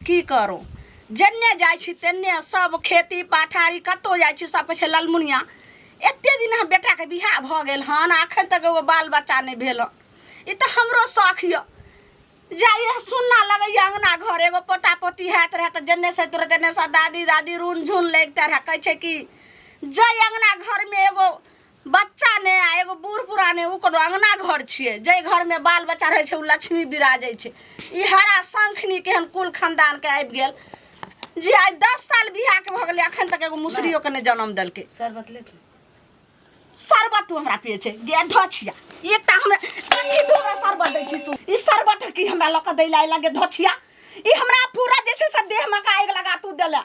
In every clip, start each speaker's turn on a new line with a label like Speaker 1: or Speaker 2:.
Speaker 1: की करू जन्ने जाइ छी तेन्ने सब खेती पाथारी कतौ जाइ छी सब कहै छै ललमुनिया एते दिन हम बेटाके बियाह भऽ गेल हन अखन तक एगो बाल बच्चा नहि भेल ई तऽ हमरो शौख यऽ जाइए सुनना लगैया अंगना घर एगो पोता पोती हैत रहै तऽ जन्ने से तुरत एन्ने से दादी दादी रून झुन लगिते रहै कहै छै कि जय अंगना घरमे एगो बच्चा ने आ एगो बूढ़ पुरान ने उ कोनो अंगना घर छिए जे घर में बाल बच्चा रहे छै उ लक्ष्मी विराजे छै ई हरा शंखनी केहन कुल खानदान के आबि गेल जे आइ दस साल बियाह के भऽ गेलै अखन तक एगो मुसरियो के ने जन्म देलकै शरबत ले
Speaker 2: के।
Speaker 1: शरबत तू हमरा पिए छै गे धछिया एकटा हम कथी दू गो शरबत दै छी तू ई शरबत की हमरा लऽ कऽ दै ला लगे धछिया ई हमरा पूरा जे छै से देह में का आगि लगा तू देला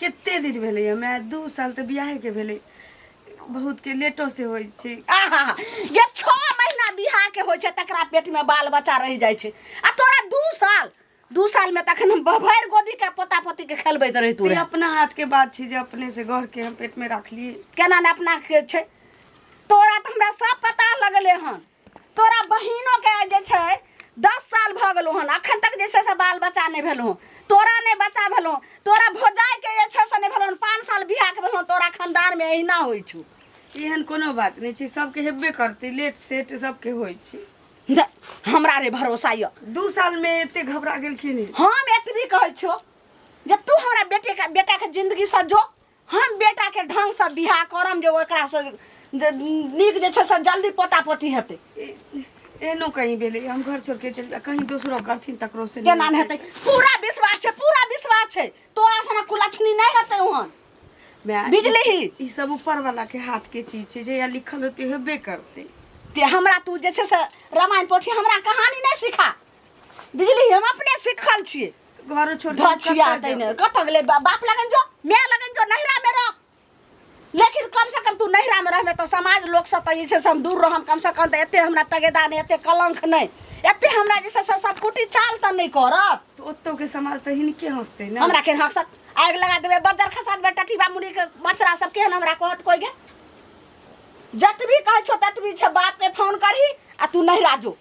Speaker 1: कते दिन भेलै
Speaker 2: हमरा दू साल तऽ बियाहके भेलै बहुतके लेटोसँ होइ छै आहा ये
Speaker 1: छो महीना बिहा के होइ छै तकरा पेट में बाल बच्चा रह जाइ छै आ तोरा दू साल दू साल में तखन हम भरि गोदी के पोता पोती के खेलबैत रही तू ई रहे। अपना हाथके बात छै
Speaker 2: जे अपनेसँ घरके हम पेटमे राखलियै केना ने अपना के
Speaker 1: छै तोरा तऽ हमरा सब पता लगले हन तोरा बहिनो के जे छै दस साल भऽ गेलो हन अखन तक जे छै से बाल बच्चा नहि भेलो तोरा नहि बच्चा भेलो तोरा भोजाइ के जे छै से नहि भेलो पाँच साल बियाह के भेलो तोरा खानदान में अहिना होइ छौ एहन कोनो
Speaker 2: बात नहि छै सबके हेबे करतै लेट सेट सबके होइ छै द- हमरा
Speaker 1: रे भरोसा यऽ दू साल में एते
Speaker 2: घबरा गेलखिन हम एतबी कहै
Speaker 1: छो जे तू हमरा बेटे का बेटा के जिंदगी सजो हम बेटा के ढंग से बियाह करम जे ओकरा से जे नीक जे छै से जल्दी पोता पोती हेतै एहनो
Speaker 2: कहीं भेलै हम घर छोड़ के चलि जा कहीं दोसरो करथिन तकरो से केना नहि हेतै पूरा
Speaker 1: विश्वास छै पूरा विश्वास छै तोरा सना कुलक्षणी नहि हेतै ओहन माय, बिजली ही ई सब ऊपर वाला
Speaker 2: के हाथ के चीज छै जहिया लिखल होते हेबे करते ते हमरा तू
Speaker 1: जे छै से रामायण पोथी हमरा कहानी नहि सिखा बुझली हम अपने सिखल छियै घर छोड़ के
Speaker 2: धछिया कतऽ
Speaker 1: तैने जाबे? कत गेले बा- बाप लगन जो मैं लगन जो नहिरा में रह लेकिन कम से कम तू नहिरा में रहबे तो समाज लोग से तो जे छै से हम दूर रहम कम से कम तो एते हमरा तगेदा नहीं एते कलंक नहीं एते हमरा जे छै से सब कुटी चाल तो नहीं करत तो ओतो के समाज
Speaker 2: तो हिनके हंसते ना हमरा के हंसत आग
Speaker 1: लगा देबे बजर खसात बे टटीबा मुड़ी के मचरा सब केहन हमरा कहत कोई गे जतबी कहै छो ततबी छै बाप के फोन करही आ तू नहिरा जो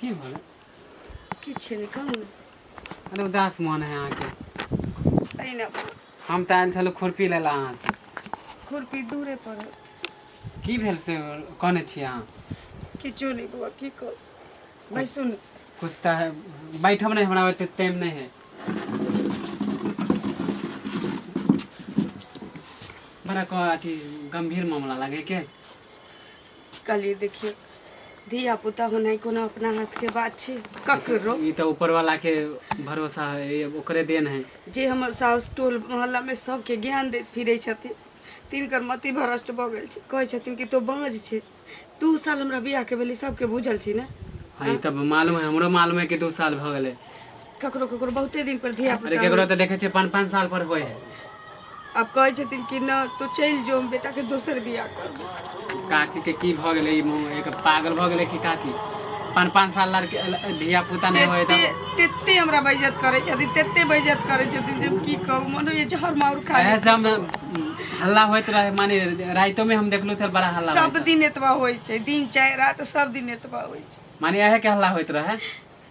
Speaker 2: की भेलै
Speaker 3: किछु
Speaker 2: नहि कहू ने अरे उदास
Speaker 3: मन है अहाँके अहिना
Speaker 2: हम तऽ आयल छलहुँ
Speaker 3: खुरपी लै लए अहाँसँ खुरपी
Speaker 2: दूरे पर है। की
Speaker 3: भेल से कहने छी अहाँ किछो नहि
Speaker 2: बौआ की कहू भाइ सुन कुछ तऽ है
Speaker 3: बैठब नहि हमरा ओते टाइम नहि है बड़ा कह अथी गंभीर मामला लागे के
Speaker 2: कहलियै देखियौ धिया पुता होनाइ कोनो अपना हाथके बात छै ककरो ई तऽ ऊपर वाला
Speaker 3: के भरोसा है ई ओकरे देन है जे हमर साउस
Speaker 2: टोल मोहल्लामे सभके ज्ञान दैत फिरै छथिन तिनकर मति भ्रष्ट भऽ गेल छै कहै छथिन कि तो बाँझ छै दू साल हमरा बियाहके भेलै सभके बुझल छै ने हाँ ई तऽ मालूम
Speaker 3: है हमरो मालूम है कि दू साल भऽ गेलै ककरो ककरो
Speaker 2: बहुते दिन पर धिया अरे पुता केकरो होइ तऽ छै। देखै छै पाँच
Speaker 3: पाँच साल पर होइ है आब कहै
Speaker 2: छथिन कि न तो चलि जो हम बेटा के दोसर बियाह करबो काकी के की
Speaker 3: भऽ गेलै ई मुँह एक पागल भऽ गेलै कि काकी पाँच पाँच साल लड़के धिया पुता नहि होइ तेते तऽ तेते हमरा बेइज्जत
Speaker 2: करै छथिन तेते बेइज्जत करै छथिन जे हम की कहू मनो ये जहर माउर खा एहे ली से हम
Speaker 3: हल्ला होइत रहे माने राइतो में हम देखलहुँ छल बड़ा हल्ला सब होइत रहे। दिन एतबा होइ
Speaker 2: छै दिन चाहे रात सब दिन एतबा होइ छै माने एहे के हल्ला होइत
Speaker 3: रहे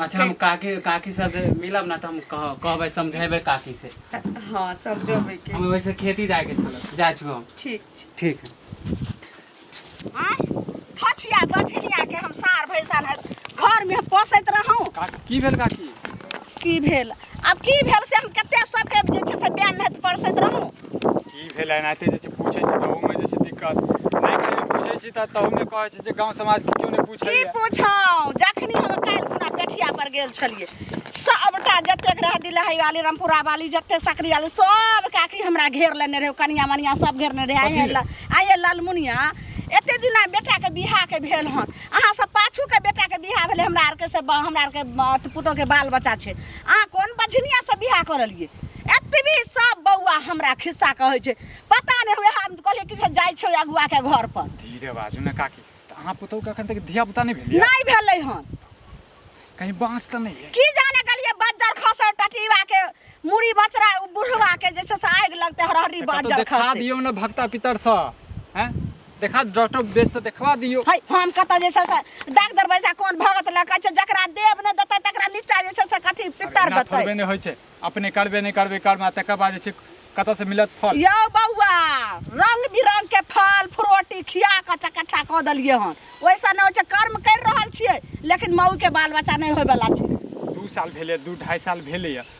Speaker 3: अच्छा हम काकी काकी सब जे मिलब ना तऽ हम कह कहबै समझेबै काकी से हाँ समझोबे
Speaker 2: के हम वैसे खेती जाए के
Speaker 3: छल जाए छु हम ठीक छै ठीक है आय
Speaker 1: फछिया बछिया के हम सार भैंसा न घर में पोसैत रहूं काकी की भेल काकी
Speaker 3: की भेल
Speaker 1: आब की भेल से हम कते सबके जे छै से बयान नहि परसैत रहूं की भेल
Speaker 3: एनाहिते जे छै पूछै छी तऽ ओहूमे जे छै दिक्कत नहि कहियो पूछै छी तऽ तहूमे कहै छै जे गाँव समाज के केओ नहि की पूछैए पूछौं
Speaker 1: जखनी हम काल्हि खुना पेठिया पर गेल छलियै सबटा जतेक रहै दिलहई वाली रामपुरा वाली जतेक सकरी वाली सब काकी हमरा घेर लेने रहै कनिया मनिया सब घेरने रहै आइए ल आइए लालमुनिया एते दिना बेटाके बिहाके भेल हन अहाँ सब पाछूके बेटाके बिहा भेलै हमरा आरके से ब- हमरा आरके ब- पुतोहके बाल बच्चा छै अहाँ कोन बझनियासँ बियाह करलियै एतबी सब बौआ हमरा खिस्सा कहै छै पता नहि हुए हम कहलियै कि से जाइ छै अगुआ के घर पर धीरे बाजू ने काकी
Speaker 4: तऽ अहाँ पुतहु के अखन तक धिया पुता नहि भेलियै नहि भेलै हन
Speaker 1: कहीं
Speaker 4: बाँस तऽ नहि है की जाने गेलियै बज्जर
Speaker 1: खसर टटीवा के मुड़ी बचरा उ बुढ़वा के जे छै से आगि लगते हरहरी कतहु बज्जर देखा खसते दियौ ने भक्ता पितर
Speaker 4: सँ हैं देखा डॉक्टर बेस से देखवा दियो है हम कत जे छै
Speaker 1: से डॉक्टर बैसा कोन भगत लग कहै छै जकरा देव ने देतै तकरा नीचा जे छै से कथी पितर एना देतै थोड़बे नहि होइ छै अपने
Speaker 4: करबे नहि करबे कर्म आ तकर बाद जे छै कतऽ से मिलत फल यौ बौआ
Speaker 1: रंग बिरंग के फल फ्रूटी खिया कऽ चकट्ठा कऽ देलियै हन ओइसँ नहि होइ छै कर्म करि रहल छियै लेकिन मऊ के बाल बच्चा नहि होय बला छै दू साल भेलै
Speaker 4: दू ढाई साल भेलैए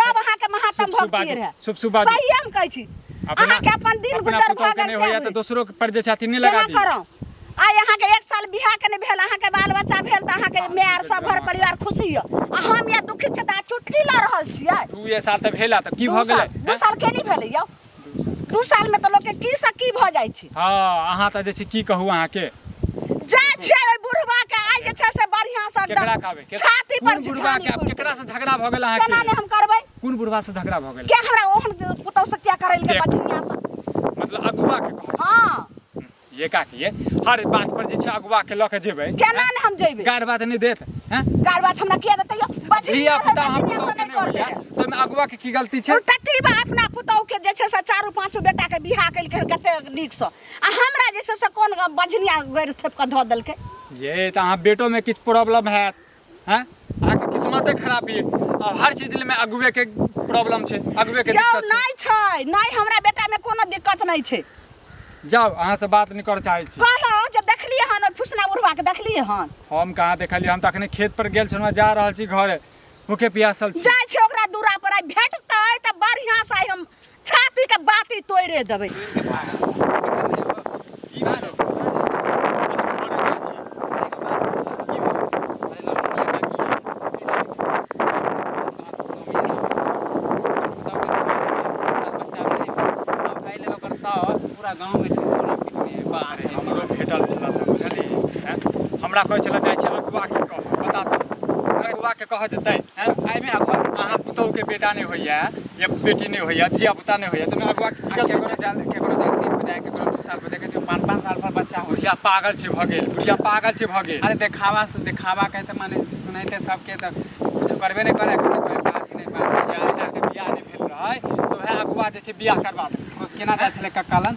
Speaker 1: तब अहाँ के महात्म शुभ शुभ भक्ति बाजू रहे शुभ शुभ बाजू सही हम कहै
Speaker 4: छी
Speaker 1: अपना- अहाँ के अपन दिन अपना गुजर पुतोह के भगन नहि होइया तऽ दोसरो के पर
Speaker 4: जे छै अथी नहि लगा केना दी करौ आइ अहाँ
Speaker 1: के एक साल बियाह के नहि भेल अहाँ के बाल बच्चा भेल तऽ अहाँ के माय आर सब घर परिवार खुशी य आ हम या दुखी छी तऽ अहाँ चुटकी लऽ रहल छियै दू ये साल तऽ भेला
Speaker 4: तऽ की दू भऽ साल- गेलै दू साल के नहि भेलै यौ
Speaker 1: दू साल में तो लोग के की से की भ जाय छी हँ अहाँ तऽ जे छै
Speaker 4: की कहू अहाँके जा छै
Speaker 1: ओइ बुढ़वा के आइ जे छै से बढ़िया से केकरा कहबै के- छाती
Speaker 4: पर कोन बुढ़वा
Speaker 1: के आब केकरा से
Speaker 4: झगड़ा भऽ गेल केना ने अहाँके हम करबै
Speaker 1: कोन बुढ़वा से झगड़ा भऽ
Speaker 4: गेल के हमरा ओहन पुतौ
Speaker 1: से क्या करैल के के? बठिया से मतलब अगुआ
Speaker 4: के कहै छी। हां ये
Speaker 1: काकी ये
Speaker 4: हर बात पर जे छै अगुआ के लऽ के जेबै केना ने हम जेबै गार
Speaker 1: बात नहि देत
Speaker 4: हैं गार बात हमरा किया
Speaker 1: देतै यो बजरी धिया पुता हम
Speaker 4: पुतहु
Speaker 1: के नहि
Speaker 4: होइया
Speaker 1: तो में अगुआ के की
Speaker 4: गलती छै टट्टी बा अपना
Speaker 1: पुतहु के जे छै से चारू पांचो बेटा के बियाह केलकै कते नीक से आ हमरा जे छै से कोन बजनिया गैर थेप के धऽ देलकै ये तऽ अहाँ
Speaker 4: बेटो में किछु प्रॉब्लम हैत हैं अहाँके किस्मते खराब ये आ हर चीज दिल में अगुए के प्रॉब्लम छै अगुए के यौ दिक्कत छै नहि छै नहि
Speaker 1: हमरा बेटामे कोनो दिक्कत नहि छै जाओ अहाँ
Speaker 4: से बात नहीं कर चाहे छी कहलहुँ जे देखलियै हन
Speaker 1: ओहि फुसना बुढ़बाके देखलियै हन हम कहाँ देखलियै
Speaker 4: हम तऽ अखने खेत पर गेल छलहुँ जा रहल छी घरे भूखे प्यासल छी जाइ छै ओकरा दूरा पर
Speaker 1: आइ भेटतै तऽ बढ़िआँ से आइ हम छाती के बाती तोड़े देबै
Speaker 3: पूरा गाँव में
Speaker 4: हमरो भेटल छला सब बुझली हैं? हमरा कहै छला जाइ छला बुआ के कह बता दो अगर बुआ के कह देतै हैं? आइमे आब अहाँ पुतौह के बेटा नहि होइया या बेटी नहीं होइया धिया पुता नहीं होइया तमे अगुआ की केकरो जल केकरो जल
Speaker 3: दिन बजाय केकरो दू साल पर देखे छै पाँच पाँच साल पर बच्चा हो बुढ़िया पागल छै भ गेल
Speaker 4: बुढ़िया पागल छै भ गेल अरे देखावा से देखावा
Speaker 3: के त माने सुनैते सबके त कुछ करबे नहीं करे खाली कोई बात ही नहीं बात बियाह के बियाह नहीं
Speaker 4: भेल रहै तो है अगुआ जे छै बियाह करवा दे केना जाय छले कक्कालन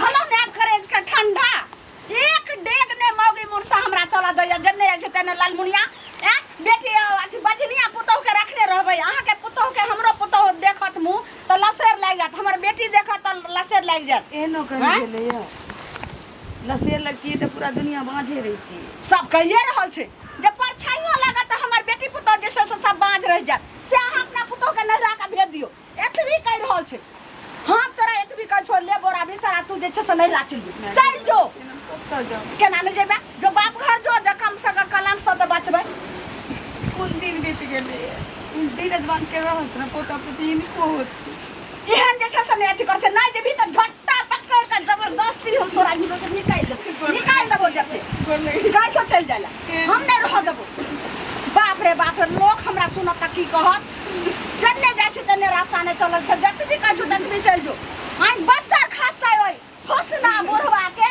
Speaker 1: भलो ने आप करे इसका ठंडा एक डेग ने मौगी मुरसा हमरा चला जाइए जन्ने जाइ छै तेने लालमुनिया ए बेटी अ, अथी बजनिया पुतोह के रखने रहबै अहाँ के पुतोह के हमरो पुतोह देखत मुँह तऽ लसेर लागि जायत हमर बेटी देखत तऽ लसेर लागि जायत एहनो करी आँय?
Speaker 2: गेलैया लसेर लगतियै तऽ पूरा दुनिया बाँझे रहितियै सब कहिए रहल
Speaker 1: छै जे परछाइयो लागत तऽ हमर बेटी पुतोह जे छै से सब बाँझ रहि जायत से अहाँ अपना पुतोह के नजरा के भेज दियौ एतबी कहि रहल छै हम तोरा एतबी कहि छोड़ ले बोरा बिस्तर आ तू जे छै से नहि राचि ले चल जो कतऽ
Speaker 2: जाऊ केना नहि जेबे जो
Speaker 1: बाप घर जो जे कम से कम कलम से तऽ बचबै कोन
Speaker 2: दिन बीत गेलै धीरज बांध के रहत ने पोता पोती इनको होत एहन जे छै
Speaker 1: से नहि अथी कर छै नहि जेबी तऽ झट जबरदस्ती हम तोरा हिरो से निकाल देबो निकाल देबो जते गाय छो चल जाला हम नहीं रह देबो बाप रे बाप रे लोग हमरा सुनत की कहत जन्ने जाय छै तन्ने रास्ता ने चलल छै जत भी कहै छो तत भी चल जो आइ बच्चा खास्ता होय होस ना बुढ़वा के